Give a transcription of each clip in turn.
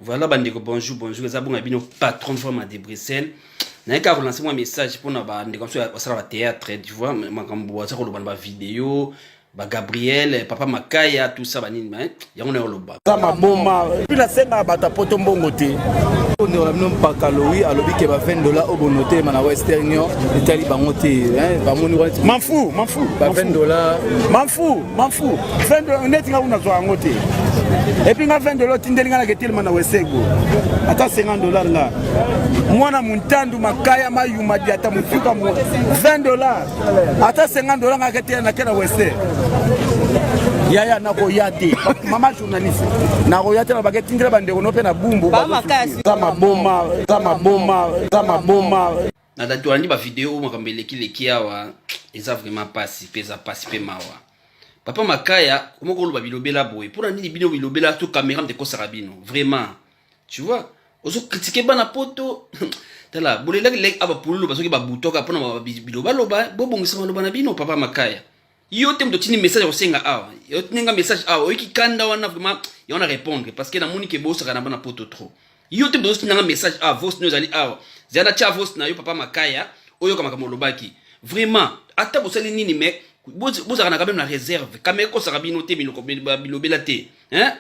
Voilà bandeko bonjour bonjour eza bonga bino patron forme de Bruxelles naye kaka kolanse mwa message mpona bandeko mosusu basala bathéâtre tu vois makambo baza koloba na bavideo bagabriel papa makaya tout ça banini yango nayo loba za maboma epi nasengaka bato ya poto mbongo te ondeko na bino mpaka lowi alobi ke ba 20 dola oyo bonotelema na western union etali bango te bamoni manfu manfu ba 20 dola manfu manfu neti nga kuna zwa yango te epuis nga 20 dola otindeli nga nake telema na wesego ata 50 dolar nga mwana montandu makaya mayuma diata motuka 20 dolar ata 50 dola nga ke te na ke na weste yaya nakoya te mama journaliste nakoya te na bake tindela bandeko no mpe na bumbu za maboma za maboma za maboma na dati walandi bavideo oyo makambo elekileki awa eza vraiment mpasi mpe eza mpasi mpe mawa papa makaya omoko oloba bilobela boye mpo na nini bino bilobela to kamera mte ekosaka bino vraiment tu vois ozo critiquer bana poto tala bolelaki leki aba pululu basoki babutoka mpona bilobaloba bobongisa maloba na bino papa makaya yo te moto otindi message akosenga awa otindi nga message awa oyoki kanda wana vraiment yango na répondre parce que namoni ke bosaka na bana poto trop yo te moto ozotinda nga message awa voice no ezali awa zela na tya voice na yo papa makaya oyoka makambo olobaki vraiment ata bosali nini mais bozalaka na quand même na réserve kama ekosaka bino te bilobela te hein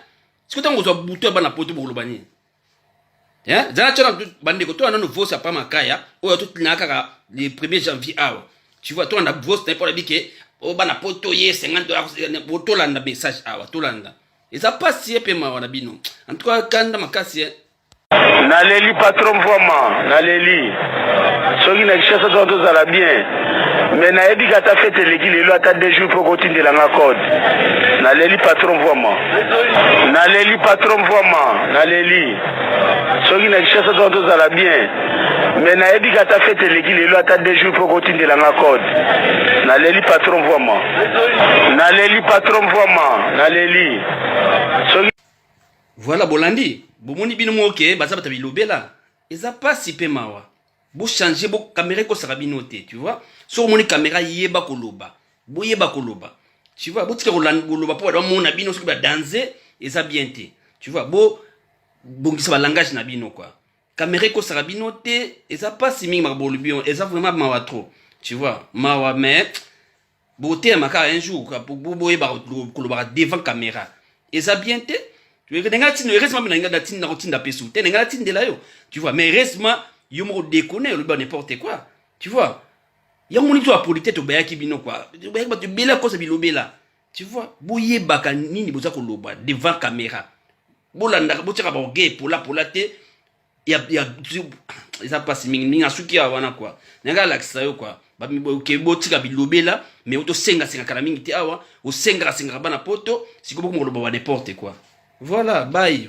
siko ntango kozwa butu ya bana poto bokoloba nini eh? zala tya na bandeko toya nano vosi apa makaya oyo totinaka kaka le 1er janvier awa tu vois tolanda vosi na ye mpo nayebi ke oyo oh, bana poto ye 50 dola tolanda message awa tolanda eza mpasi ye mpe mawa na bino en tout cas kanda makasi Na leli patron mvuama na leli soki na kishasa tona tozala bien me nayebi ka ata fete eleki lelo ata deux jours mpo kotindela nga code na leli patron mvuama na leli patron mvuama na leli soki na kishasa tona tozala bien me nayebi ka ata fete eleki lelo ata deux jours mpo kotindela nga code na leli patron mvuama na leli patron mvuama na leli soki Voilà bolandi bomoni bino moke baza bata bilobela eza pasi pe mawa bo changer bo kamera ekosaka bino te tu vois soki omoni kamera yeba koloba boyeba koloba tu vois botika koloba mpo bato bamona bino soki badanze eza bien te tu vois bo bongisa balangage na bino kua kamera ekosaka bino te eza mpasi mingi makambo olobi eza vraiment mawa trop tu vois mawa mais botelema kaka un jour boyeba kolobaka devant caméra eza bien te nenga tinda heureusement mpe nalinga natinda nakotinda mpe su te nenga natindela yo tu vois mais heureusement yo moko dekone olobi ba n'importe quoi tu vois yango moni to apolite tobayaki bino kua tobayaki bato ebele akosa bilobela tu vois boyebaka nini boza koloba devant caméra bolandaka botyaka baorgueil polapola te ya ya eza mpasi mingi mingi asuki ya wana kua nayaka alakisa yo kua oke botika bilobela me otosengasenga kala mingi te awa osengaka sengaka bana poto sikoyo bokomokoloba ba n'importe quoi voilà bai